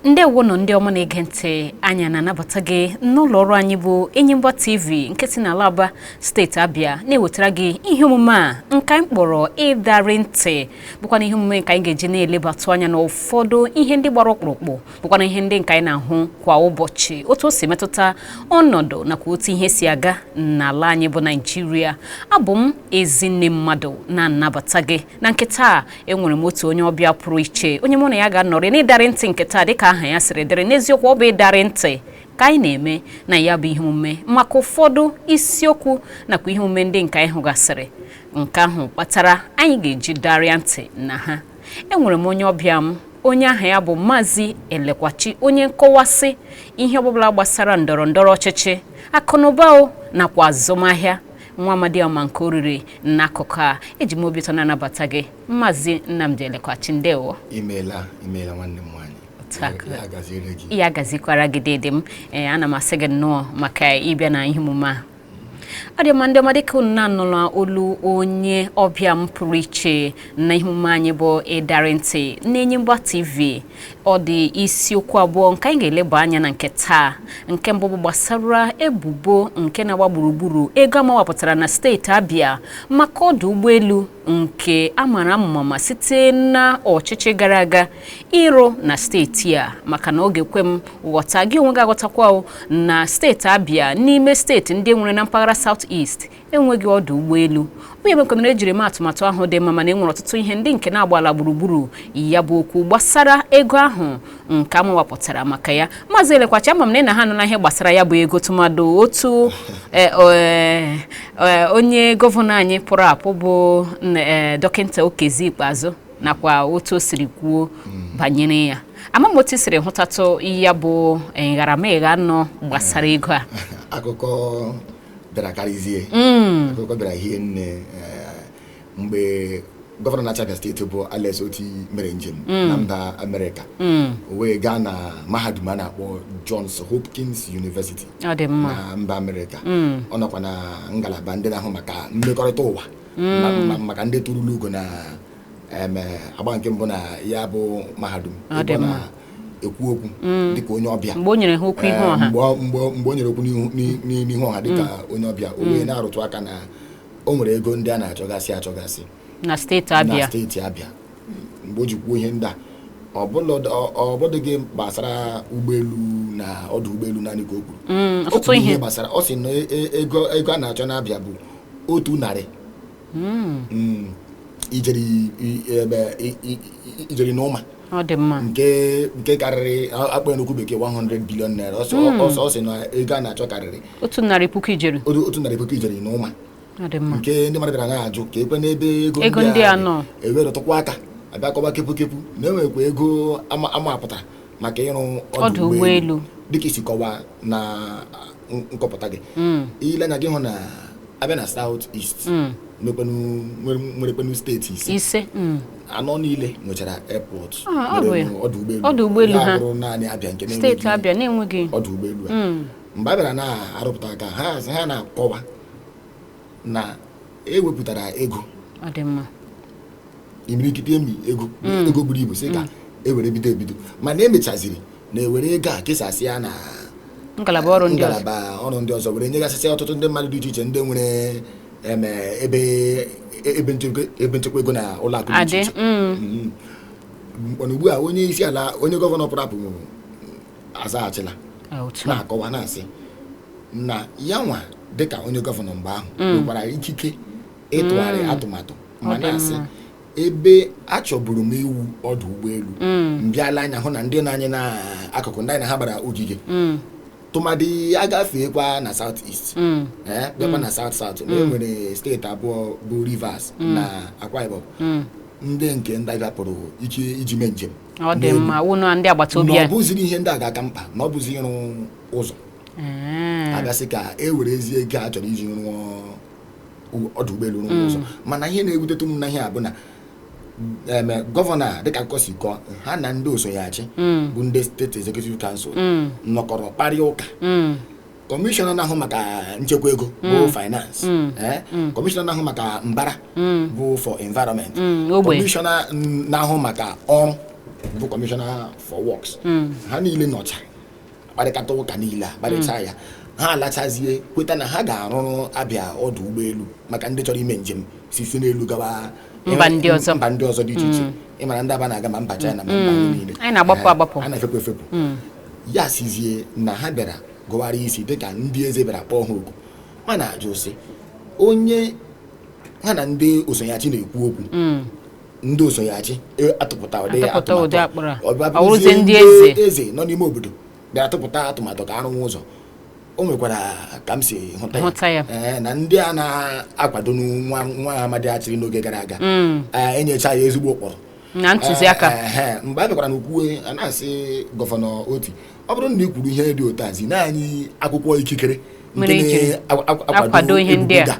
ndewonụ ndị ọma na-ege ntị anyị na-anabata gị n'ụlọ ọrụ anyị bụ Enyimba TV nke si n'ala Aba steeti Abịa na-ewetara gị ihe omume a nke anyị kpọrọ ịdarị ntị bụkwa na ihe omume nke anyị ga-eji na-elebatụ anya n'ụfọdụ ihe ndị gbara ọkpụrụkpụ bụkwana ihe ndị nke anyị na-ahụ kwa ụbọchị otu o si metụta ọnọdụ nakwa otu ihe si aga n'ala anyị bụ naijiria abụ m Ezinne Mmadụ na-anabata gị na nke taa enwere m otu onye ọbịa pụrụ iche onye mụ na ya ga-anọrị n'ịdarị ntị nke taa dịka aha ya siri dịrị n'eziokwu ọ bụ ịdarị ntị ka anyị na-eme na ya bụ ihe omume maka ụfọdụ isiokwu nakwa ihe omume ndị nke anyị hụgasịrị nke ahụ kpatara anyị ga-eji darịa ntị na ha enwere m onye ọbịa m onye aha ya bụ Maazị Elekwachi onye nkọwasị ihe ọbụla gbasara ndọrọ ndọrọ ọchịchị akụnụba o nakwa azụmahịa nwa amadi ọma nke oriri n'akụkụ a eji m obi ụtọ na-anabata gị Maazị Nnamdi Elekwachi ndewo imeela imeela nwanne m nwaanyị ya gazikwara gị dede m ee ana m asị gị nnọọ maka ịbịa na ihe omume a ọ dị mma ndị ọma dịka unu na-anụla olu onye ọbịa m pụrụ iche na ihe omume anyị bụ ịdarị ntị n'Enyimba TV ọ dị isiokwu abụọ nke anyị ga-eleba anya na nke taa nke mbụ bụ gbasara ebubo nke na-agba gburugburu ego a mawapụtara na steeti abịa maka ọdụ ụgbọelu nke a mara amụma site na ọchịchị gara aga ịrụ na steeti a maka na ọ ga-ekwe m ghọta gị onwe gị aghọtakwa na steeti Abia n'ime steeti ndị e nwere na mpaghara South East enweghị ọdụ ụgbọelu ihe mekwanara e jiri maa atụmatụ ahụ dị mma mana enwere ọtụtụ ihe ndị nke na-agbala gburugburu ya bụ okwu gbasara ego ahụ nke a mawapụtara maka ya maazị elekwachi ama m na ị na ha anụla ihe gbasara ya bụ ego tụmadụ otu e, e, e, onye gọvanọ anyị pụrụ apụ bụ dọkịta Okezie Ikpeazụ nakwa otu o siri kwuo banyere ya ama m otu i siri hụtatụ ya bụ eh, nharameghe anọ gbasara ego a akụkọ bịara karịzie akụkọ bịara hie nne eh, mgbe gọvanọ na-achị Abia steeti bụ Alex Otti mere njem na mba Amerịka o wee gaa na mahadum a na-akpọ Johns Hopkins University ọ dị mma na mba Amerịka ọ nọkwa na ngalaba ndị na-ahụ maka mmekọrịta ụwa mm. maka ndị tụrụla ugo na agba nke mbụ na ya bụ mahadum ekwu okwu mm. dịka onye ọbịa mgbe o nyere ha okwu ihu ọha mgbe o nyere okwu n'ihu ọha dịka mm. onye ọbịa o wee na-arụtụ aka na o nwere ego ndị a na-achọgasị achọgasị na steeti abịa mgbe o ji kwuo ihe ndị a ọ bụdụghị gbasara ụgbọelu na ọdụ ụgbọelu naanị ka o kwuru mm, ọtụtụ ihe gbasara ọ sị na e, e, ego a na-achọ n'Abịa bụ otu narị mm. Mm, ijeri na ụma nke karịrị akpọ n'okwu bekee 100 bilion naira ọ sị na ego a na-achọ karịrị otu narị puku ijeri na ụma nke ndị mmadụ bịara na-ajụ keekwanụ ebe ego ndị a nọ ewerụtụkwa aka a bịa kọba kepu kepu na enwekwa ego amapụtara maka ịrụ ọdụ ụgbọelu dịka i si kọwaa na nkọpụta gị hmm. i lee anya gị hụ na a bịa na South East hmm. nwerekwanụ steeti ise hmm. anọ niile nwechara airport ah, ọdụ ụgbọelu ha bụrụ naanị Abịa nke na-enweghị ọdụ ụgbọelu a mgbe a bịara na-arụpụta aka ha na-akọwa na ewepụtara ego ọ dị mma imirikiti emi ego mm. ego buru ibu sị ka mm. ewere bido ebido mana emechaziri na ewere ego a kesasị ya na ngalaba ọrụ ndị ọzọ ngalaba ọrụ ndị ọzọ were nyegasịsị ọtụtụ ndị mmadụ dị iche iche ndị nwere ebe ebe nchekwa ego na ụlọ akụ dị iche iche mm. mm-hmm. ugbu a onye isi ala onye gọvanọ pụrụ apụ azaghachila Ah, otu a. na-akọwa na-asị na ya nwa dịka onye gọvanọ mgbe ahụ nwekwara ikike ịtụgharị atụmatụ ma Ọ dị na-asị mma. ebe achọburu m iwu ọdụ ụgbọelu m bịa lee anya hụ na ndị nọ anyị n'akụkụ ndị anyị na ha gbara ogige Mm, tụmadị a gafeekwa na South East mm, ee bịakwa na South South na enwere steeti abụọ bụ Rivers na Akwa Ibom mm. ndị nke ndị Abịa pụrụ ike iji mee njem ọ dị N'elu. mma wụnụ ndị agbata obi na ọ anyị bụziri ihe ndị a ga-aka mkpa na ọ bụzi ịrụ ụzọ Ee. a bịa sị ka e werezie ego a chọrọ iji rụọ u- ọdụ ụgbọelu rụọ ụzọ mana ihe na-ewutetụ m na ihe a bụ na em gọvanọ a dịka akụkọ si kọọ ha na ndị so ya achị bụ ndị state executive council nọkọrọ kparịa ụka Mm. kọmishọna na-ahụ maka nchekwa ego bụ mm. finance mm. Eh? Mm. kọmishọna na-ahụ maka mbara bụ for environment kọmishọna na-ahụ maka ọrụ bụ commissioner for works ha niile nọchaa kparịkata ụka niile a kparịchaa ya ha alachazie kweta na ha ga-arụrụ Abịa ọdụ ụgbọelu maka ndị chọrọ ime njem si si n'elu gawa mba ndị ọzọ mba ndị ọzọ dị iche iche ị mara ndị Aba na-aga ma mba China ma mba niile anyị na-agbapụ eh, agbapụ a na-efepụ efepụ ya sizie na ha bịara gụwara isi dịka ndị eze bịara kpọọ ha oku ma na-ajụ sị onye ha na ndị oso ya achị na-ekwu okwu hmm. ndị oso ya achị e, atụpụta ụdị atụmatụ ọbịa ndị eze nọ n'ime obodo bịara atụpụta atụmatụ ka a rụwa ụzọ o nwekwara ka m si hụta ya eh, na ndị a na-akwado nwa amadi a chịrị n'oge gara aga hmm. eh, enyecha ya ezigbo ụkpụrụ na ntụziaka Eh, eh, eh, mgbe a bịakwara n'okwu a a na-asị gọvanọ otti ọ bụrụ na ị kwuru ihe dị otu a zinụ anyị akwụkwọ ikikere nke na-akwado ihe ndị a.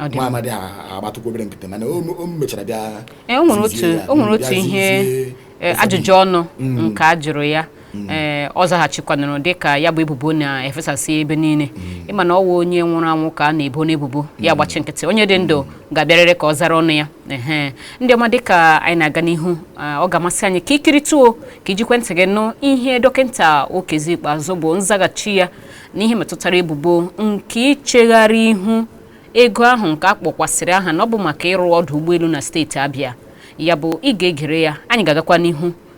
Ọ dị nwa amadi a agbatụkwa obere nkịtị mana o o mechara bịa Eh, o nwere otu tizie ya, o nwere bịa otu ihe zazie eh, ajụjụ ọnụ nke a jụrụ ya Mm. ee ọ zaghachikwanụrụ dịka ya bụ ebubo na-efesasị ebe niile mm. ị ma na ọ wụ onye nwụrụ anwụ ka a na-ebonụ ebubo ya mm. agbachi nkịtị onye dị ndụ ga-abịarịrị ka ọ zara ọnụ ya ee ndị ọma dịka anyị na-aga n'ihu ọ ga-amasị anyị ka i kirituo ka i jikwa ntị gị nụ ihe dọkịta okezie ikpeazụ bụ nzaghachi ya n'ihe metụtara ebubo nke ichegharị ihu ego ahụ nke a kpọkwasịrị aha na ọ bụ maka ịrụ ọdụ ụgbọelu na steeti Abịa ya bụ ị ga-egere ya anyị ga-agakwa n'ihu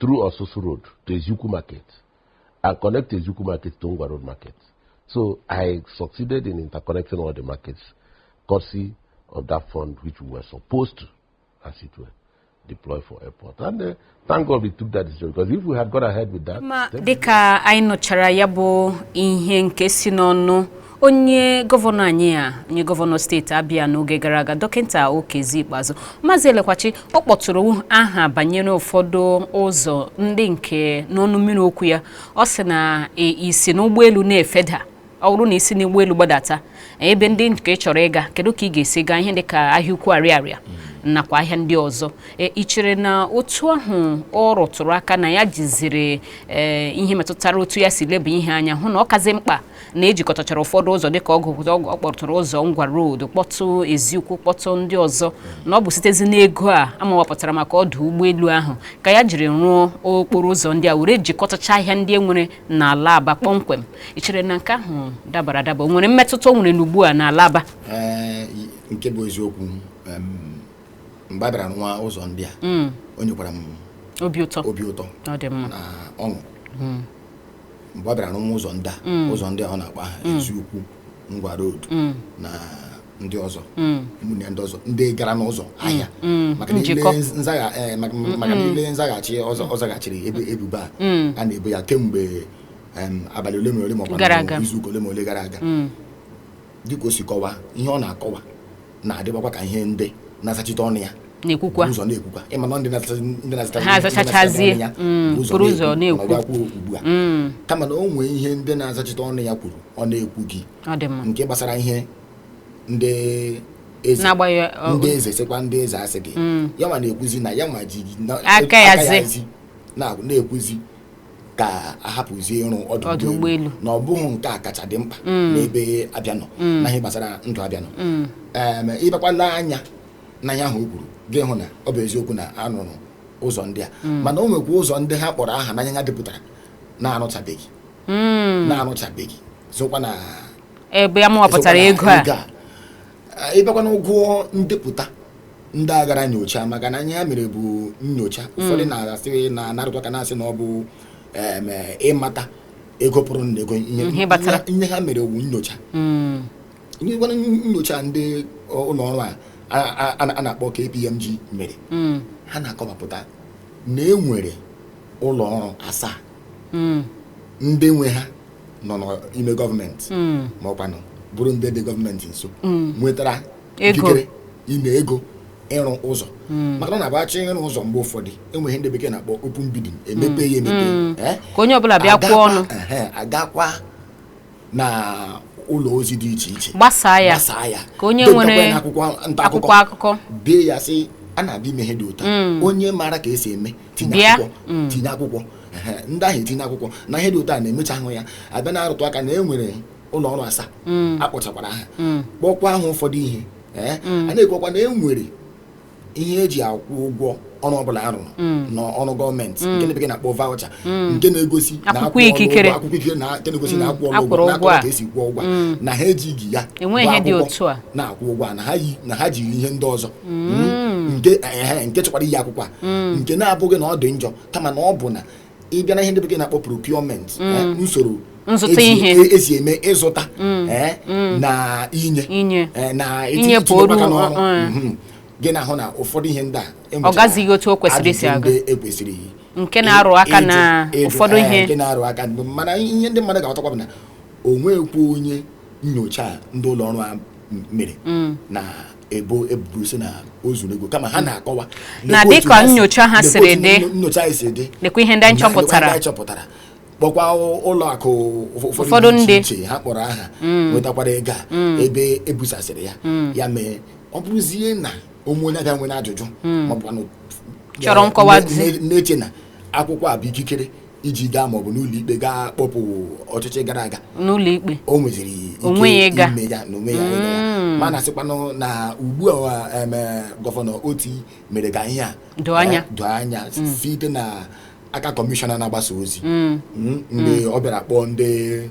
through Osusu Road to Eziukwu Market and connect Eziukwu Market to Ngwa Road Market. So I succeeded in interconnecting all the markets courtesy of that fund which we were supposed to, as it were, deploy for airport. And uh, thank God we took that decision because if we had gone ahead with that... Ma dịka anyị nụchara ya bụ ihe nke si n'ọnụ onye gọvanọ anyị a onye gọvanọ steeti abịa n'oge gara aga dọkịta okezie ikpeazụ maazị elekwachi ọ kpọtụrụ aha banyere ụfọdụ ụzọ ndị nke n'ọnụ mmiri okwu ya ọ sị na e, i si n'ụgbọelu na-efeda ọ bụrụ na i si n'ụgbọelu gbadata ebe ndị nke ị chọrọ ịga kedu ka ị ga-esi gaa ihe dị ka ahịa ukwu ariaria nakwa ahịa ndị ọzọ e, i chere na otu ahụ ọ rụtụrụ aka na ya jiziri e, ihe metụtara otu ya si leba ihe anya hụ na ọ kazi mkpa na e jikọtachara ụfọdụ ụzọ dịka ọ kpọtụrụ ụzọ ngwa road kpọtụ eziukwu kpọtụ ndị ọzọ na ọ bụ sitezi n'ego a a mawapụtara maka ọdụ ụgbọelu ahụ ka ya jiri rụọ okporo ụzọ ndị a were jikọtacha ahịa ndị e nwere n'ala aba kpọmkwem i chere na nke ahụ dabara adaba o nwere mmetụta o nwere n'ugbu a n'ala aba nke bụ eziokwu mgbe a bịara rụwa ụzọ ndị a mm. o nyekwara m obi ụtọ na ọṅụ mm. mgbe ọ bịara rụwa ụzọ ndị a mm. ụzọ ndị a ọ na-akpọ aha mm. eziukwu ngwa road mm. na ndị ọzọ ụmụnne ndị ọzọ ndị gara n'ụzọ ahịa market niile eh, nzaghachi ọ zaghachiri ebubo a a na-ebo ya kemgbe abalị ole ma ole ma ọ bụ izuụka ole ma ole gara aga dịka o si kọwa ihe ọ na-akọwa na-adịbakwa ka ihe ndị na-azachite ọnụ ya na-ekwukwa ụzọ na-ekwukwa ịma na ndị na-azụta ha azachachazie mm, buru ụzọ na-ekwu ugbu a mm. kama na o nwere ihe ndị na-azachite ọnụ ya kwuru ọ na-ekwughị nke gbasara ihe ndị eze ndị eze sịkwa ndị eze asịghị mm. ya nwa na-ekwuzi na ya nwa ji aka ya zi na-ekwuzi ka a hapụzie ịrụ ọdụ Ọdụ ụgbọelu ụgbọelu. na ọ bụghị nke a kacha dị mkpa n'ebe Abịa nọ na ihe gbasara ndụ Abịa nọ Em, ị bakwala anya n'ihe ahụ o kwuru gị ahụ na ọ bụ eziokwu na a rụrụ ụzọ ndị a mana o nwekwa ụzọ ndị ha kpọrọ aha n'ihe ha depụtara na-arụchabeghị Mm. na-arụchabeghị sokwa na ebe ya mụwapụtara sokwa na ego a ị bịakwanụ gụọ ndepụta ndị a gara nyocha maka na ihe ha mere bụ nyocha hmm. ụfọdụ na-asị na a na-arụtụ aka na-asị na ọ bụ ịmata ego pụrụ na ego ihe hmm, ha mere wu nyocha hmm. nyekwana nyocha ndị ụlọ ọrụ a na-akpọ KPMG mere ha na-akọwapụta na e nwere ụlọ ọrụ asaa ndị nwe ha nọ n'ime gọọmenti hmm. ma ọkwanụ bụrụ ndị dị gọọmenti nso hmm. nwetara ikikere ime ego ịrụ ụzọ hmm. maka na a bịa chọọ ịrụ ụzọ mgbe ụfọdụ e nwere ihe ndị bekee na-akpọ open bidding emepe ya emepe eh? ka onye ọbụla bịa kwuo ọnụ a gaakwa na ụlọ ozi dị iche iche gbasaa ya ka onye nwere akwụkwọ akụkọ dee ya sị a na-abịa ime ihe dị otu a onye maara ka esi eme tinye Bịa. akwụkwọ tinye akwụkwọ Ehe, ndị ahụ etinye akwụkwọ na ihe dị otu a na-emecha ahụ ya abịa na-arụtụ aka na e nwere ụlọ ọrụ asaa a kpọchakwara aha kpọkwa aha ụfọdụ ihe ee a na-ekwukwa na e nwere ihe eji akwụ ụgwọ ọrụ ọbụla a rụrụ na ọrụ gọọmenti nke ndị bekee na-akpọ voucher nke na-egosi na Akwụkwọ a kwụrụ ụgwọ, ikikere. akwụkwọ ikikere na nke na-egosi na a kwụrụ a kwụrụ ụgwọ na ụgwọ a. akọwa ka esi kwụọ ụgwọ a, na ha ejighị ya Enweghị bụ ihe dị akwụkwọ otu a. na-akwụ ụgwọ a, na ha yi- na ha jiri ihe ndị ọzọ nke ehe, nke chọkwara iyi akwụkwọ a nke na-abụghị na ọ dị njọ kama na ọ bụ na ị bịa na ihe ndị bekee na-akpọ procurement eh, usoro Nzụta esi- ihe. e- esi eme ịzụta eh, na inye Inye. eh, na Inye itinye pụrụ, aka n'ọrụ eh, eh. Mhm. gị na-ahụ na ụfọdụ ihe ndị a enwechara gazighị otu o kwesịrị isi ajụjụ aga. ndị ekwesịrị iyi. Nke na-arụ aka Ịjụ- na ịjụ, ụfọdụ eh, ihe. nke na-arụ aka mgbe- mana ihe ndị mmadụ ga-aghọtakwa bụ na o nweghịkwa onye nyocha a ndị ụlọ ọrụ a m- mere na ebo ebubo sị na o zuru ego kama ha na-akọwa Na lekwa otu dịka ha si- nnyocha ha lekwa siri otu dị. nyo- nyocha anyị si dị Lekwa ihe ndị anyị na- lekwa chọpụtara. ndị anyị chọpụtara kpọkwa ụ- ụlọ akụ ụf- Ụfọdụ ụfọdụ dị ndị. iche iche ha kpọrọ aha nwetakwara ego a ebe ebusasịrị ya ya mee ọ bụrụzie na o nwe onye Abịa nwere ajụjụ maọbụ anụ- Chọrọ nkọwa ne- zi. ne- na-eche na akwụkwọ a bụ ikikere iji gaa maọbụ n'ụlọ ikpe gaa kpọpụ ọchịchị gara aga n'ụlọ ikpe o nweziri ike ime ya na onwe ya. Mm. mana sịkwanụ na ugbu a em, eh, gọvanọ Otti mere ka ihe a Doo anya. eh, doo anya site na aka kọmishọna na-agbasa ozi Mm. Mm, ndị ọ bịara kpọọ ndị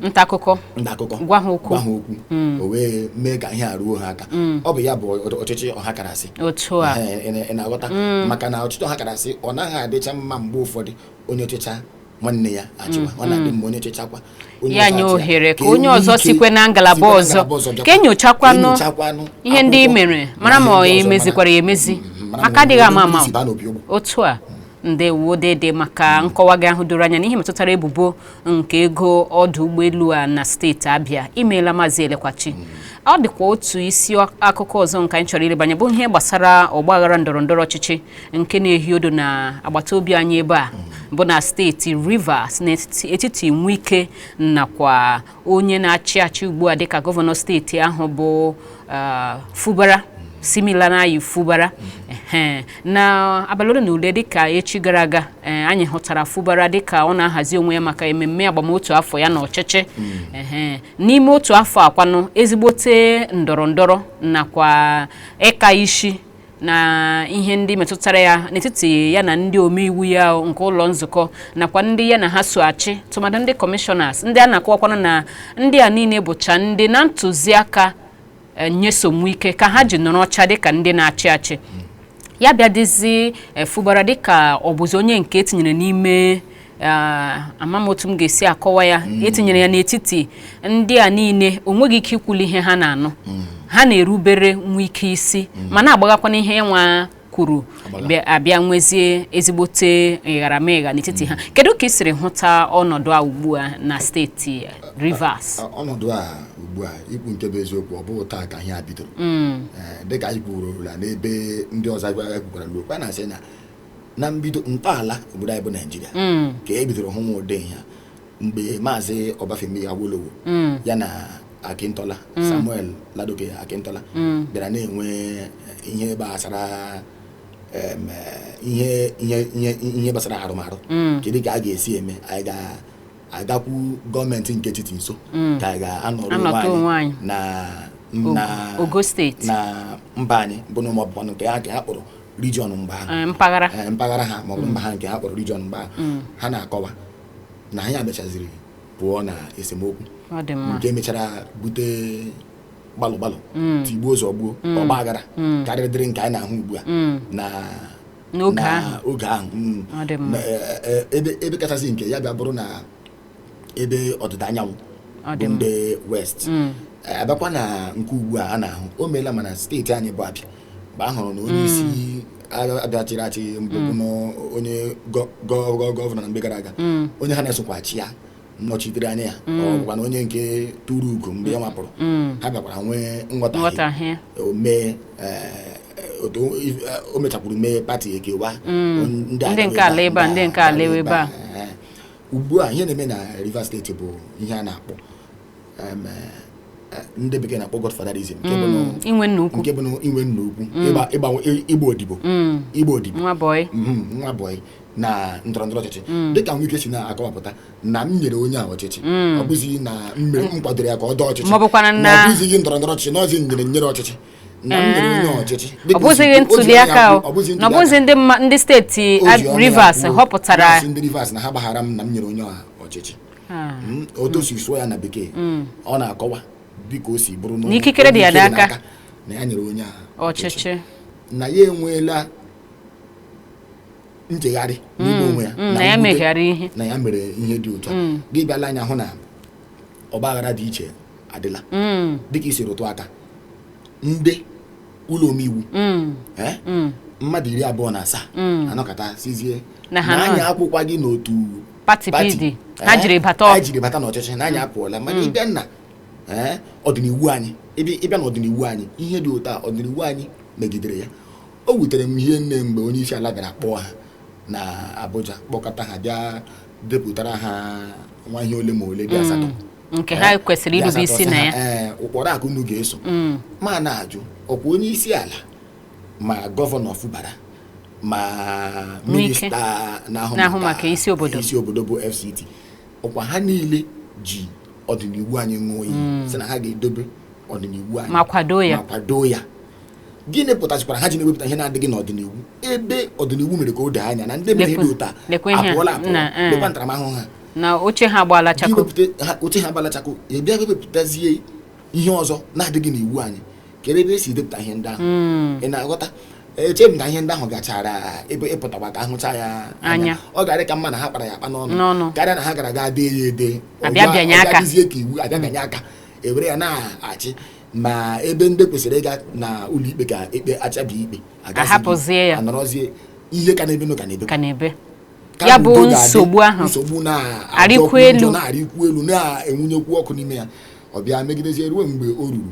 nta akụkọ ndị akụkọ Gwa ha okwu. gwa ha okwu o wee mee ka ihe a ruo ha aka ọ bụ ya bụ ọ- ọchịchị ọha karasị otu a Ee, ị na- ị na-aghọta maka na ọchịchị ọha karasị ọ naghị adịcha mma mgbe ụfọdụ onye chụcha nwanne ya achụwa ọ na-adị mma onye chụchakwa onye ya ọzọ nye achụ ohere ka e onye nwee ọzọ ike sikwe na ngalaba sikwe na ọzọ ngalaba ọzọ bịakwa. ka enyochakwanụ enyochakwanụ ihe ndị i akwụkwọ mere na mara ma ihe ndị ọ ọzọ, emezikwara ya mara- emezi Mhm, mara aka ma adịghị ama onye ama isi baa n'obi ụgbọ. otu a ndewo dede maka nkọwa gị ahụ doro anya n'ihe metụtara ebubo nke ego ọdụ ụgbọelu a na steeti Abia imeela maazị Elekwachi mm. ọ dịkwa otu isi akụkọ ọzọ nke anyị chọrọ ilebanye bụ ihe gbasara ọgbaghara ndọrọ ndọrọ ọchịchị nke na-ehi odo na agbata obi anyị ebe a mm. bụ na steeti Rivers n'etiti Nwike nakwa onye na-achị achị ugbu a dịka gọvanọ steeti ahụ bụ uh, Fubara Siminalayi Fubara na abalị ole na ole dịka echi gara aga eh, anyị hụtara Fubara dịka ọ na-ahazi onwe ya maka ememme agbam otu afọ ya na ọchịchị hmm. n'ime otu afọ a kwanụ ezigbote ndọrọ ndọrọ nakwa ịka isi na ihe ndị metụtara ya n'etiti ya na ndị omeiwu ya nke ụlọ nzukọ nakwa ndị ya na ha so achị tụmadụ ndị kọmishọnas ndị a na-akọwakwa na na ndị a niile bụcha ndị na ntụziaka eh, Nyesom Wike ka ha ji nọrọ oche dịka ndị na-achị achị ya bịa dịzie Fubara eh, dịka ọ bụzi onye nke etinyere n'ime ama m otu m ga-esi akọwa ya mm. etinyere ya n'etiti ndị a niile o nweghị ike ikwuli ihe ha na-anụ mm. ha na-erubere Nwike isi mm. ma na-agbaghakwanụ ihe ya nwa kwuru a bịa nwezie ezigbote ịgharamịgha n'etiti ha kedu ka ị siri hụta ọnọdụ a ugbu a na steeti Rivers ọnọdụ a ugbu a ikwu nke bụ eziokwu ọ bụghị taa ka ihe a bidoro dịka anyị kwurula n'ebe ndị ọzọ a gara kwukwara okwu na-asị na na mbido ntọala obodo anyị bụ Naịjirịa mm. ka e bidoro hụwa ụdị ihe a mgbe maazị Obafemi Awolowo mm. ya na Akintola mm. Samuel Ladoke Akintola bịara na-enwe ihe gbasara eh, ihe gbasara arụmarụ kedu ka a ga-esi eme anyị ga-agakwu gọọmenti nke etiti nso ka anyị ga-anọrọ onwe anyị na na mba anyị bụ na ụmụ ọbụbọnụ nke ha ka ha kpụrụ region mgbe ahụ eh, mpaghara eh, mpaghara ha maọbụ mba ha nke ha kpọrọ region mgbe ahụ mm. ha na-akọwa na anyị abịachaziri pụọ na esemokwu nke mechara bute gbalụ gbalụ mm. tigbuo zọgbuo mm. ọgba aghara karịrịdịrị nke anyị na-ahụ ugbu a na n'oge ahụ eh, ebe kachasị nke ya bịa bụrụ na ebe ọdịda anyanwụ bụ ndị west a bịakwa na nke ugbu a a na-ahụ o meela ma na steeti anyị bụ Abịa mgbe a hụrụ na onye isi Abịa chịrị achị mbụ bụ na onye gọ- gọ- gọ- gọvanọ na mgbe gara aga onye ha na-esokwa achị ya nnọchitere anya ya ọ bụkwa na onye nke tụrụ ugo mgbe ya nwa pụrụ ha bịakwara nwee nghọtahie nghọtahie o mee eh, otu o- if- eh, o mechakwuru mee pati ekewa Ndị nke ala ebe a, ndị nke ala ebe a. ugbu a ihe na-eme na Rivers steeti bụ ihe a na-akpọ ndị bekee na-akpọ godfatherism nke bụ mm, inwe nna ukwu mm. ịgba odibo mm. ịgba odibo nwa bọyị mm-hmm, na ndọrọ ndọrọ ọchịchị dịka Wike si na-akọwapụta na m nyere onye a ọchịchị ọ bụzighị na mmere m kwadoro ya ka ọ dọọ ọchịchị ma ọ bụzighị ndọrọ ndọrọ ọchịchị n'ọzi nyere nyere ọchịchị ọ bụzighị ntuli aka na ọ bụzi ndị steeti Rivers họpụtara ndị Rivers na ha gbaghara m na m nyere onye a ọchịchị ah. hmm, otu o si sụọ ya na bekee hmm. ọ na-akọwa dịka o si bụrụ n'ikikere dị ya n'aka na ya nyere onye ahụ ọchịchị na ya enweela nchegharị n'ime onwe ya na ya mere ihe dị otu a gị bịala anya hụ na ọgbaghara dị iche adịla dịka i si rụtụ aka ndị ụlọ omeiwu eh? mmadụ iri abụọ na asaa hmm. anọkọta sịzie na anyị akwụkwaghị n'otu pati pati. pd ha Eh, jiri bata anyị ọgụ jiri bata n'ọchịchị na anyị apụọla mana ị bịa na eh, ọdịniwu anyị ị bịa ị bịa n'ọdịniwu anyị ihe dị otu a ọdịniwu anyị megidere ya o wutere m hie nne mgbe onye isi ala bịara kpọọ ha na Abuja kpọkọta ha bịa depụtara ha nwa ihe ole ma ole dị asatọ nke ha Eh, kwesịrị dị irube asatọ isi sị na ha, ya eh, ụkpụrụ a ka unu ga-eso ma na-ajụ ọkwa onye isi ala ma gọvanọ Fubara ma minista na-ahụ maka isi obodo isi obodo bụ FCT ọkwa ha niile ji ọdịniwu anyị ṅụọ iyi hmm. sị na ha ga-edobe ọdịniwu anyị ma kwado ya ma kwado ya gịnị pụtachikwara ha ji na-ewepụta ihe na-adịghị n'ọdịniwu ebe ọdịniwu mere ka o doo anya na ndị mere ihe dị otu a apụọla apụọ eh. lekwa ntaramahụhụ ha na oche ha agbaala chakoo oche ha agbaala chakoo e bịa wepụtazie ihe ọzọ na-adịghị n'iwu anyị kere ebe e si depụta ihe ndị ahụ hmm. ị na-aghọta eche m na ihe ndị ahụ gachara ebe ịpụtakwa ka a hụcha ya anya ọ ga-adị ka mma na ha kpara ya akpa n'ọnụ karịa na ha gara aga dee ya ede ọ bịazie ka iwu a bịa bịanye aka e were ya na-achị ma ebe ndị kwesịrị ịga na ụlọikpe ka ekpe achabi ikpe a hapụzie ya a nọrọzie ihe ka na-ebenụ ka na-ebe ya bụ nsogbu ahụ nsogbu na-arịkwu elu na-arịkwu elu na-enwunyekwu ọkụ n'ime ya ọ bịa megidezie ruo mgbe o ruru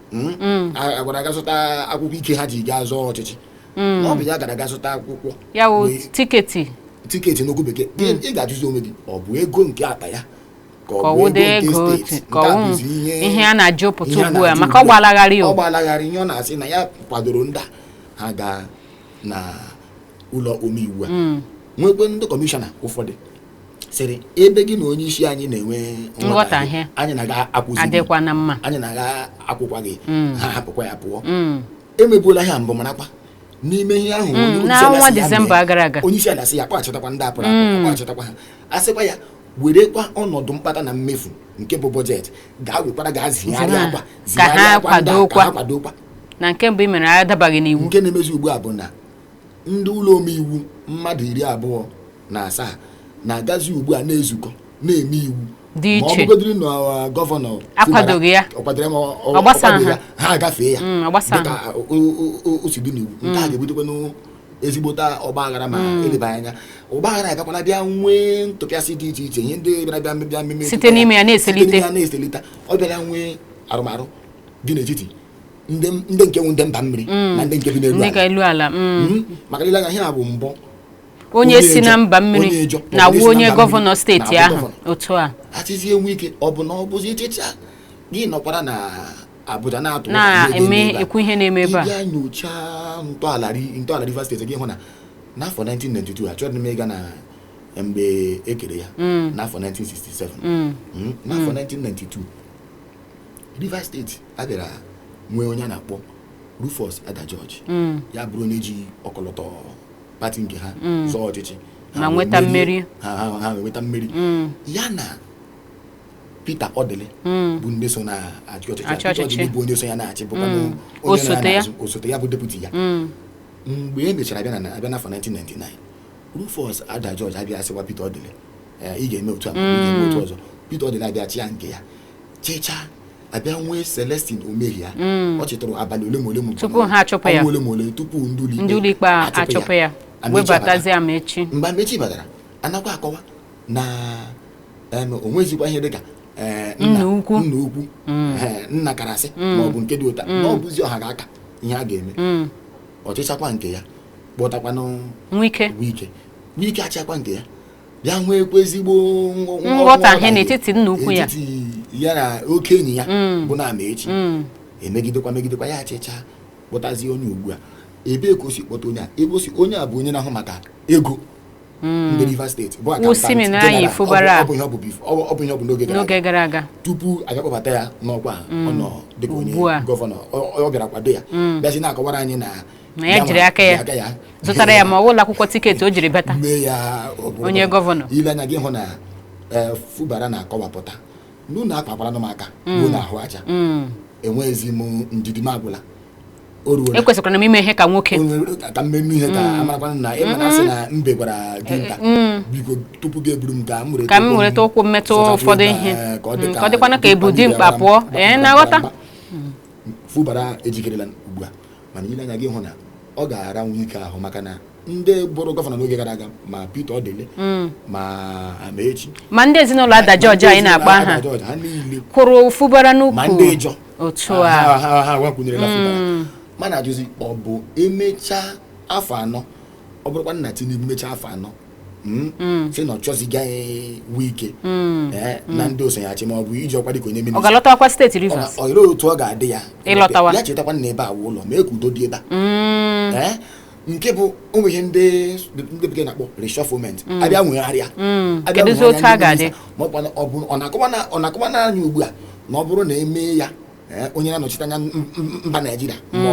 Hmm? Hmm. agwara aga zụta akwụkwọ ike ha ji gaa zọọ ọchịchị hmm. ọ bụ ya gara aga zụta akwụkwọ ya wụ tiketi tiketi n'okwu bekee ị ga-ajụzi onwe gị ọ bụ ego nke akpa ya ka ọ bụ ego nke steeti nke a bụzi ihe a na-ajụpụta ugbu a maka ọ gbalagharị ọ gbalagharị ihe ọ na-asị na ya kwadoro ndị ha ga na ụlọ omeiwu a mm. nwekwe ndị kọmishọna ụfọdụ sịrị ebe gị na onye isi anyị na-enwe nghọtahie anyị na gị akwụzi anyị na gị akwụkwaghị mm. ha hapụkwa ya pụọ mm. e mebuola ihe mbụ marakwa n'ime ihe ahụ mm, n'ọnwa disemba gara aga onye isi ala sị ya kpọghachịtakwa ndị a pụrụ apụ kpọghachịtakwa ha a sịkwa ya werekwa ọnọdụ mkpata na mmefu nke bụ bọjetị gaa wekwara gaa zigharịakwa zigharịakwa ndị ka ha kwadokwa na nke mbụ i mere adabaghị n'iwu nke na-emezi ugbu a bụ na Ndị ụlọ omeiwu mmadụ iri abụọ na asaa na-agazi ugbu a na-ezukọ na-eme iwu Dị ma ọ iche. bụgodiri na uh, gọvanọ Akwadoghị ya. ọ kwadoro ya ma ọ- ọ- Ọ gbasa ọ kwadoghị ha. ya, ha agafee ya Mm, ọ gbasa dịka ha. o- o- o- o si dị n'iwu nke a ga-ebutekwanụ ezigbota ọgba aghara ma e leba anya ọgba aghara agakwala bịa nwee ntụpịasị dị iche iche ihe ndị bịara bịa bịa mmemme Site n'ime ya na-eselite. site n'ime ya na-eselite ọ bịara nwee arụmarụ dị n'etiti ndị ndị nke wụ ndị mba mmiri Mm. na ndị nke bi n'elu ndị ka ala elu ala mm. Mm, maka i lee anya ihe a bụ mbụ onye si na mba mmiri onye Ijaw, na onye si wu na onye mba gọvanọ mmiri, steeti na-abụ ahụ gọvanọ. otu a a sịzi Wike ọ bụ na ọ bụzi ị chịcha gị nọkwara na Abuja na-atụ ụjọ na ihe ga-eme eme ebe a. ekwu ihe na-eme ebe a ị bịa nyochaa ntọala ri- ntọala Rivers steeti gị hụ na n'afọ 1992 achọghị m ịga na mgbe e kere ya Mm. n'afọ 1967 Mm. Mm, n'afọ 1992 Rivers steeti a bịara nwee onye a na-akpọ Rufus Ada George mm. ya bụrụ onye ji ọkọlọtọ pati nke ha mm. zọọ ọchịchị ha nweta mmeri ha nweta mmeri mm. ya na Peter Odili bụ ndị so na-achị ọchịchị Peter Odili bụ onye so ya na-achị bụkwa osote ya bụ deputi ya mgbe e mechara abịa na abịa n'afọ 1999 Rufus Ada George abịa asịwa Peter Odili eh, ị ga-eme otu a ị ga-eme otu ọzọ Peter Odili abịa chịa nke ya chịcha abịa nwee Celestine Omehia mm. ọ chịtụrụ abalị ole ma ole ma tupu ha achụpụ ya ole ma ole tupu ndị ụlọikpe achụpụ ya webatazie Amaechi mgbe Amaechi batara a nakwa akọwa na o nwezikwa ihe dịka eh, nna ukwu mm. eh, nna karasị mm. ma ọ bụ nke dị otu a na ọ bụzi ọha ga-aka ihe a ga-eme ọ chịchakwa nke ya kpọtakwanụ Wike Wike achịakwa nke ya bịa nweekwa ezigbo nghọ- nghọ- nghọtahie nghọtahie n'etiti nna ukwu ya n'etiti ya na oke enyi ya bụ na Amaechi Mm. e megidekwa megidekwa ya achịcha kpọtazie onye ugbu a ebee ka o si kpọta onye a ebe o si onye a bụ onye na-ahụ maka ego ndị Rivers steeti bụ accountant general. Siminalayi Fubara. Ọ bụ- ọ bụ ihe ọ bụ bif- ọ bụ- ọ bụ ihe ọ bụ n'oge gara aga n'oge gara aga tupu a ga-akpọbata ya n'ọkwa a, ọ nọ dịka onye Ugbu a. gọvanọ ọ ọ bịara kwado ya bịazi na-akọwara anyị na na ya jiri aka ya zụtara ya ma ọ wụla akwụkwọ tiketi o jiri bata mee ya onye gọvanọ i lee anya gị hụ na eh, Fubara na-akọwapụta na unu akpakwara m aka mm. ruo n'ahụ aja mm. enweghịzi m ndidi m agwụla ekwesịkwara m ime ihe ka nwoke ka m mee ihe ka mm. a marakwa na ị ma na a sị na mbe gwara dinta eh, eh, biko tupu gị eburu m ka m were ka m were ụkwụ metụ ụfọdụ ihe ka ọ dịkwanụ ka e bu dimkpa pụọ ee na-aghọta Fubara ejikerela ugbu a mana i lee anya gị hụ na ọ ga-ara Wike ahụ maka na ndị bụrụ gọvanọ n'oge gara aga ma Peter Odili mm. ma Amaechi ma ndị ezinụlọ Ada George anyị na-akpọ aha kwụrụ Fubara n'ukwu ma ndị Ijọ otu a ha agbakwụnyerela Fubara mm. mana a jụzie ọ bụ e mechaa afọ anọ ọ bụrụkwanụ na Tinubu emechaa afọ anọ Mm. Mm. sị na ọ chọzighị eh, Wike Mm. eh, na ndị so ya achị ma ọ bụ iji ọkwa dịka onye minista ọ ga-alọtakwa steeti Rivers olee otu ọ ga-adị ya Ịlọtawa. ya chetakwa na ebe a wụ ụlọ mee ka udo dị ebe a Mm. Eh, nke bụ ụmụ ihe ndị ndị bekee na-akpọ reshufflement a bịa nwegharịa Mm. a bịa Kedụzi nwegharịa otu a ndị ga-adị? minista. Ma ọ bụ na- ọ bụ- ọ na-akọwa na- ọ na-akọwa n'anya ugbu a na ọ bụrụ na e mee ya Eh, onye na-anọchite anya mba Naịjirịa mm. ma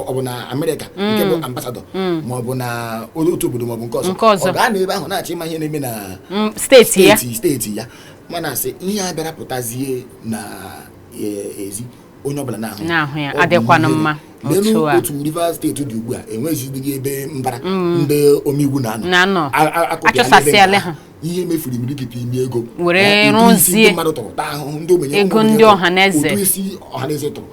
ọ bụ na Amerịka mm. nke bụ ambasadọ mm. ma ọ bụ na otu obodo ma ọ bụ nke ọzọ ọ gaa n'ebe ahụ na-achọ ịma ihe na-eme na steeti ya steeti ya mana a sị ihe a bịara pụtazie na e, ezi onye ọbụla na-ahụ ya adịkwanụ mma n'elu otu Rivers steeti dị ugbu a enweghịzidị ebe mbara ndị omeiwu na-anọ a chụsasịala ha ihe e mefuru imirikiti ime ego were rụzie mmadụ tụrụ taa ahụhụ ndị ogbenye ego ndị ọha na eze ụtụ isi ọha na eze tụrụ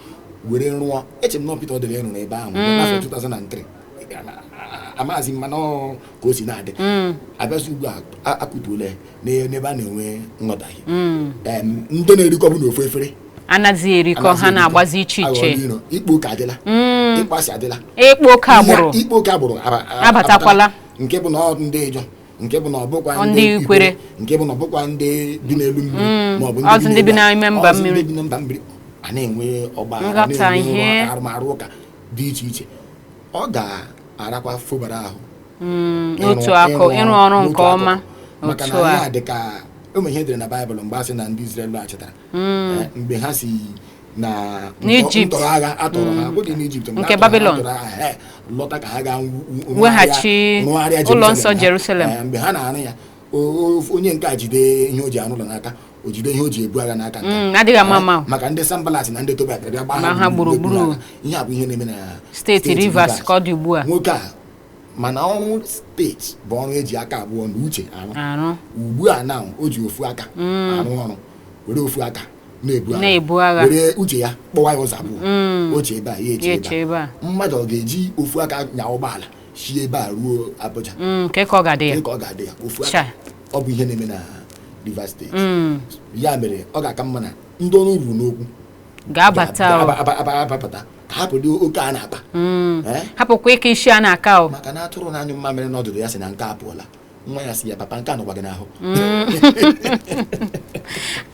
were rụọ eche m na Peter Odili rụrụ ebe ahụ mm. n'afọ 2003 amaghịzi m mana ka o si na-adị mm. a bịazie ugbu a a kụtuola n'ebe a na-enwe nghọtahie mm. ndị na-erikọbu n'ofu efere anaghị erikọ ha na-agbazi iche iche ịkpa oke adịla ịkpọ asị adịla ịkpa oke agbụrụ abatakwala nke bụ na ọ ndị Ijọ nke bụ na ọ bụkwa ndị Ikwere, nke bụ na ọ bụkwa ndị bi n'elu mmiri Mm, ma ọ bụ ndị bi n'elu- n'ime mba mmiri a na-enwe ọgba aghara, arụmarụ ụka dị iche iche ọ ga-arakwa Fubara ahụ Mm, ịrụ- n'otu akụ ịrụ ọrụ nke ọma maka na ya dị ka ụmụ ihe e dere na baịbụl mgbe a sị na ndị Izrel laghachitara Eh, mgbe ha si na ntọrọ agha a tọrọ ha abụghị n'Ijipt nke Babylon lọta ka ha gaa wu- wu- rụgharịa ụlọ nsọ Jerusalem. Eh, mgbe ha na-arụ ya o- o- onye nke a jide ihe o ji arụ ụlọ n'aka o jide ihe o ji ebu agha n'aka nke a. Mm, adịghị ama ama maka ndị Sanbalat na ndị Tobaya bịa gbaa ha gburugburu. ihe a bụ ihe na-eme na steeti Rivers ka ọ dị ugbu a nwoke a ma na ọrụ steeti bụ ọrụ e ji aka abụọ na uche arụ arụ ugbu a na o ji ofu aka arụ ọrụ were ofu aka na-ebu agha were uche ya kpọwa ya ụzọ abụọ Mm. o chee ebe a ya echee ebe a. mmadụ ọ ga-eji ofu aka nya ụgbọala si ebe a ruo Abuja Mm, kee ka ọ ga-adị ya dị ka ọ ga-adị ya ofu aka ọ bụ ihe na-eme na Rivers steeti Mm, ya mere ọ ga-aka mma na ndị ọnụ ruru n'okwu ga-abata o. ga- aba- aba- abapụta ka hapụdị oke a na-akpa Mm. Eh? hapụkwa ịka isi a na-aka o maka na atụrụ na-anyụ mmamịrị n'ọdụdụ ya sị na nke a pụọla nwa ya sị ya papa nke a nọkwa gị n'ahụ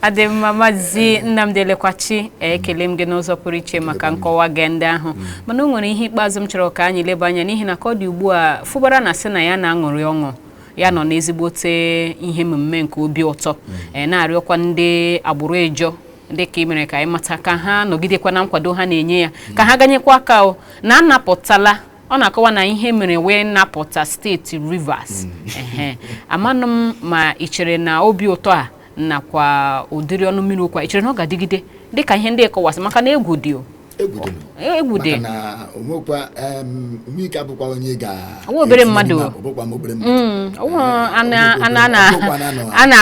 ọ dị mma maazị Nnamdi Elekwachi ekele m gị n'ụzọ pụrụ iche maka nkọwa gị ndị ahụ mm. mana o nwere ihe ikpeazụ m chọrọ ka anyị leba anya n'ihi na ka ọ dị ugbu a Fubara na-asị na ya na-aṅụrị ọṅụ ya nọ n'ezigbote ihe mmemme nke obi ụtọ mm. e, na-arịọkwa ndị agbụrụ Ijọ dịka ị mere ka anyị mata ka ha nọgidekwa na nkwado ha na-enye ya ka ha ganyekwa aka na a napụtala ọ na-akọwa na ihe mere wee napụta steeti Rivers ehe amanụ m ma ị chere na obi ụtọ a nakwa ụdịrị ọnụ mmiri okwu a ị chere na ọ ga-adịgide dịka ihe ndị ị kọwasị maka na egwu dị o egwu dị nụ. egwu dị maka na o nwekwa em, Nwike abụkwa onye ga-etinye n'ime akpa, ọ bụkwa obere mmadụ Mm, ọ bụ Eh, ana ọ bụ ana obere- ana ọ bụkwa na anọ- ana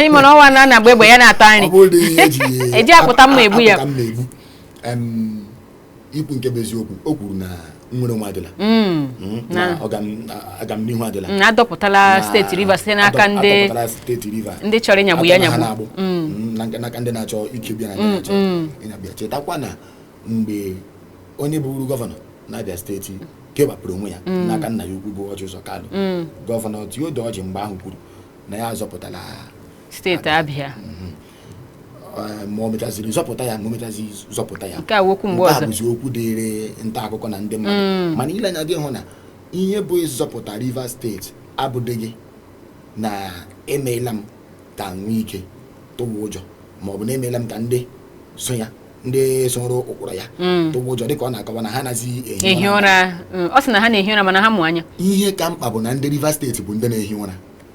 ị ma na ọnwa a na-agba egbe ya na-ata nri e ji akpụta mma egbu ya. Em, ikwu nke bụ eziokwu o kwuru na nnwere onwe adịla mm. Mm, na agamnihu adịla mm, a dọpụtala steeti Rivers site n'aka ndị ndị chọrọ ịnyagbu ya nyagbu n'aka ndị na-achọ ikegbu ya na-achọ ịnyagbu ya chetakwa na mgbe onye bụburu gọvanọ n'Abịa steeti kewapụrụ onwe ya n'aka nna ya ukwu bụ Ọjị Ụzọ Kalụ gọvanọ Tiodo Ọjị mgbe ahụ kwuru na ya azọpụtala steeti Abịa mm-hmm. eh, ma o mechaziri zọpụta ya ma o mechaziri zọpụta ya nke a okwu mgbe ọzọ bụzi okwu dịịrị nta akụkọ na ndị mmadụ mm. mana ile anya gị hụ na ihe bụ ịzọpụta Rivers steeti abụdịghị na emeela m ka Wike tụwa ụjọ ma ọ bụ na emeela m ka ndị so ya ndị soro ụkpụrụ ya mm. tụwa ụjọ dịka ọ na-akọwa na ha nazi ehi ụra mm, ọ sị na ha na-ehi ụra mana ha mụ anya ihe ka mkpa bụ na ndị Rivers steeti bụ ndị na-ehi ụra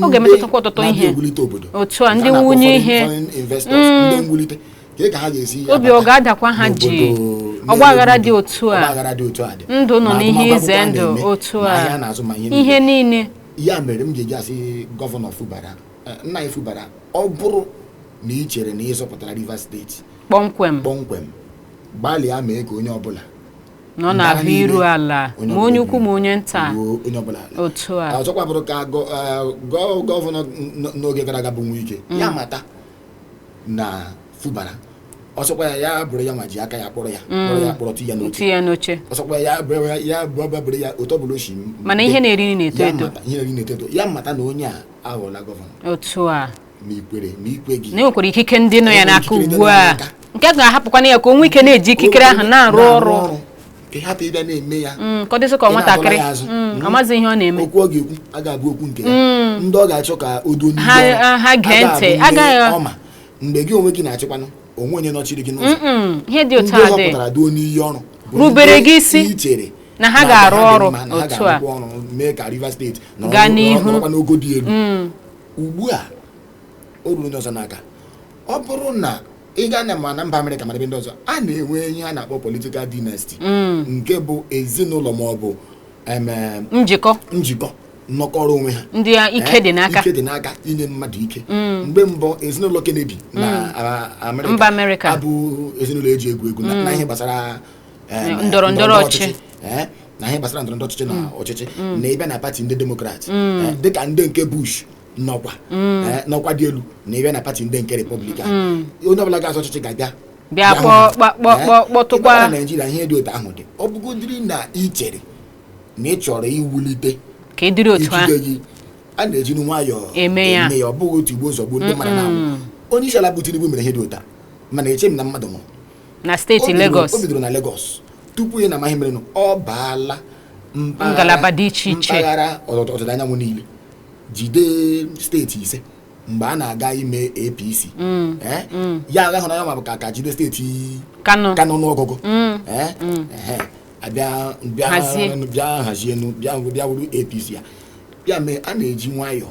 ọ ga-emetụtakwa ọtụtụ ihe mwulite obodo otu a ndị mwunye ihe ka ha ga-esi ihe obi ọ ga-adakwa ha jii ọgbaghara dị otu a ndụ nọ n'ihe ize ndụ otu a na azụmahịa ihe niile ya mere m ga-eji asị gọvanọ Fubara eh, nna anyị Fubara ọ bụrụ na ị chere na ị zọpụtara Rivers steeti kpọmkwem kpọmkwem gbalịa mee ka onye ọbụla nọ na ahụ iru ala ma onye ukwu ma onye nta otu a ọzọkwa bụrụ ka gọvanọ n'oge gara aga bụ Wike mm. ya mata na Fubara ọ sọkwa ya ya bụrụ ya nwa ji aka ya kpọrọ ya mm. kpọrọ ya kpọrọ ya n'oche ya n'oche ọ sọkwa ya bụrụ ya bụrụ ya otu ọ bụla o si mana ihe na-eri na-eto eto ihe na-eri na-eto eto ya mata na onye a aghọọla gọvanọ otu a ma i kwere ma i kweghị na e nwekwara ikike ndị nọ ya n'aka ugbu a nke a ga-ahapụkwanụ ya ka o nwee ike na-eji ikikere ahụ na-arụ ọrụ ka ị hapụ ịbịa na-eme ya mm, ka ọ dịzi ka nwatakịrị mm, mm. amaghị ihe ọ na-eme okwu ọ ga-ekwu agaghị abụ okwu nke ya ndị ọ ga-achọ ka o duo n'ihu ha gee ntị agaghị ọma mgbe gị onwe gị na-achịkwanụ o nwe onye nọchiri gị n'ụzọ ihe dị otu a dị ndị duo n'iyi ọrụ rubere gị isi i chere na ha ga-arụ ọrụ otu a mee ka Rivers steeti gaa n'ihu n'ogo dị elu ugbu a o ruru onye ọzọ n'aka ọ bụrụ na ị gaa na ma na mba Amerịka ma n'ebe ndị ọzọ a na-enwe ihe a na-akpọ political dynasty nke bụ ezinụlọ ma ọ bụ em, em, njikọ njikọ nnọkọrọ onwe ha ndị a ike dị n'aka ike dị n'aka inye mmadụ ike mgbe mbụ ezinụlọ Kennedy na a- Mba Amerịka. abụghị ezinụlọ e ji egwu egwu na- na ihe gbasara eh, na- ndọrọ ndọrọ ọchịchị. eh, na ihe gbasara ndọrọ ndọrọ ọchịchị na ọchịchị na ịbịa na pati ndị Demokrat eh, dịka ndị nke Bush nọkwa eh, n'ọkwa dị elu na ịbịa na pati ndị nke Republican onye ọbụla ga-azọ ọchịchị ga-abịa Bịa hụ kpọ- ha. kpọ- kpọ- Eh, kpọ- kpọtụkwa- ịbịa na Naịjirịa ihe dị otu ahụ dị ọ bụgodiri na ị chere na ị chọrọ iwulite ka ị dịrị otu ahụ ikike gị a na-eji nwayọọ Eme ya. ọ bụghị tigbuo zọgbuo ndị mmadụ na-anwụ onye isi ala bụ Tinubu mere ihe dị otu a mana echeghị m na mmadụ nwụrụ na steeti Lagos o bidoro na Lagos tupu ị na-ama ihe merenụ ọ baala ngalaba dị iche iche mpaghara ọdịda anyanwụ niile jide steeti ise mgbe a na-aga ime APC mm. Eh? Mm. ya agaa hụ onye ọ ma bụ aka jide steeti Kano n'ọgụgụ mm. eh? eh, abịa bịa hazienu bịa wuru APC ya ya mee a na-eji nwayọọ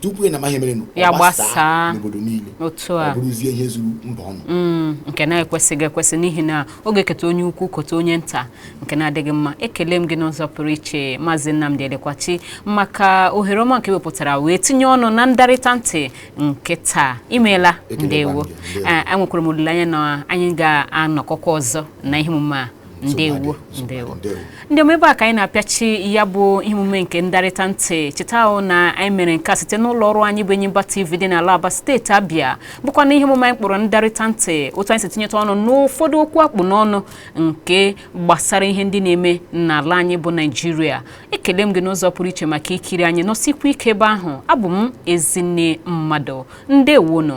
tupu ị na-ama ihe merenụ ya gbasaa n'obodo niile otu a ọ bụrụzie ihe zuru mba ọnụ mm, nke na-ekwesịghị ekwesị n'ihi na ọ ga-eketa onye ukwu kota onye nta nke na-adịghị mma ekele m gị n'ụzọ pụrụ iche maazị Nnamdi Elekwachi maka ohere ọma nke i wepụtara wee tinye ọnụ na ndarịta ntị nke taa imeela ndewo enwekwara eh, m olileanya na anyị ga-anọkọkwa ọzọ na ihe omume a ndewo ndewo ndị ọma ebe a ka anyị na-apịachi ya bụ ihe omume nke ndarịta ntị chetanụ na anyị mere nke a site n'ụlọ ọrụ anyị bụ Enyimba TV dị n'ala Aba steeti Abịa bụkwa na ihe omume anyị kpọrọ ndarịta ntị otu anyị si tinyeta ọnụ n'ụfọdụ okwu a kpụ n'ọnụ nke gbasara ihe ndị na-eme n'ala anyị bụ Naijiria ekele m gị n'ụzọ pụrụ iche maka ikiri anyị nọsikwa ike ebe ahụ abụ m Ezinne Mmadụ ndewonụ